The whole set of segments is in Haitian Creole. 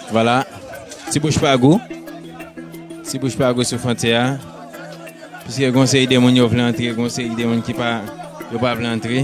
Vwala ti bouch pa gou Ti bouch pa gou sou fontyè a Piske gon seri de moun yo vle antre gon seri de moun ki pa yo pa vle antre.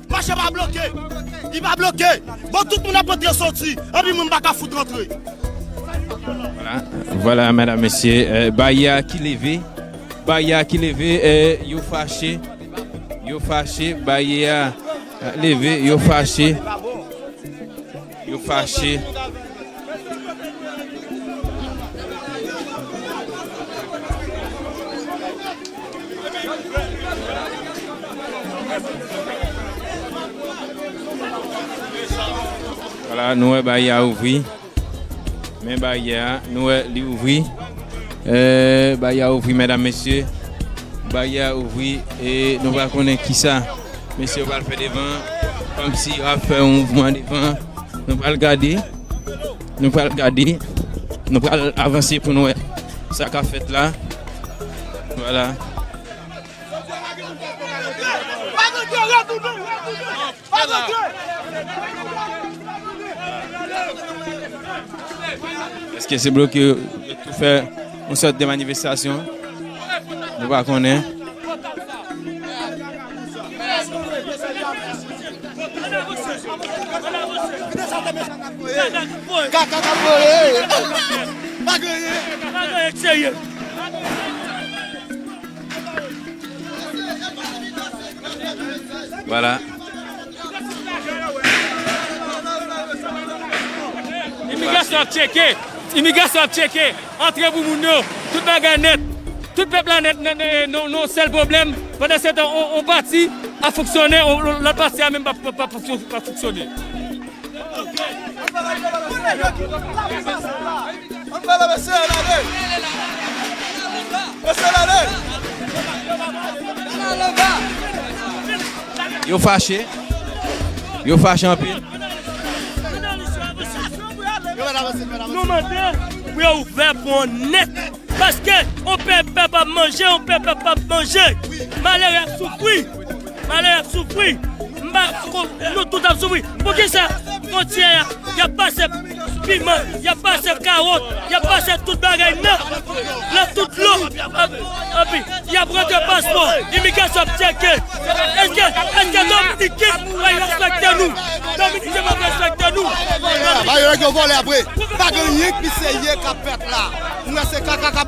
Mache pa bloke, li pa bloke. Bon tout moun ap antre soti, anpi moun pa ka fout antre. Vwala mèdam mesye, baya ki leve, baya ki leve, yo fache, yo fache, baya leve, yo fache. Yo fache. Wala nou wè baryè a ouvri. Men baryè a nou wè li ouvri. Baryè a ouvri medam mesye. Baryè a ouvri e nou pa konnen kisa. Mesye yo pral fè devan. Komsi yo ap fè yon mouvman devan. Nou pral gade. Nou pral gade. Nou pral avanse pou nou wè sa k ap fèt la. Vwala. Eske se bloke yo tou fè? yon sòt de manifestasyon, nou pa konnen. Imigrasyon ap tcheke, imigrasyon ap tcheke antre pou moun yo, tout bagay nèt, tout pèp la nèt nan yon sèl pwoblèm, pandansetan yon pati ap fonksyone, lòt pati a menm pap fonksyone. Yo fache. Yo fache anpil. Nou mande pou yo ouvè pon an nèt. Paske yon pèp pa ap manje, yon pèp pa ap manje. Malere ap soufri. Malere ap soufri. Nou tout ap soufri. Poukisa fwontyè a y ap pase. piman, y ap pase kawòt, y ap pase tout bagay nan nan tout dlo, epi y ap rantre paspò, imigrasyon ap tcheke èske èske dominiken pral respekte nou, dominiken pap respekte nou. Ba yo nèg yo vòlè apre. Pa gen anyen ki serye kap fèt la. Ou wè se kaka kap.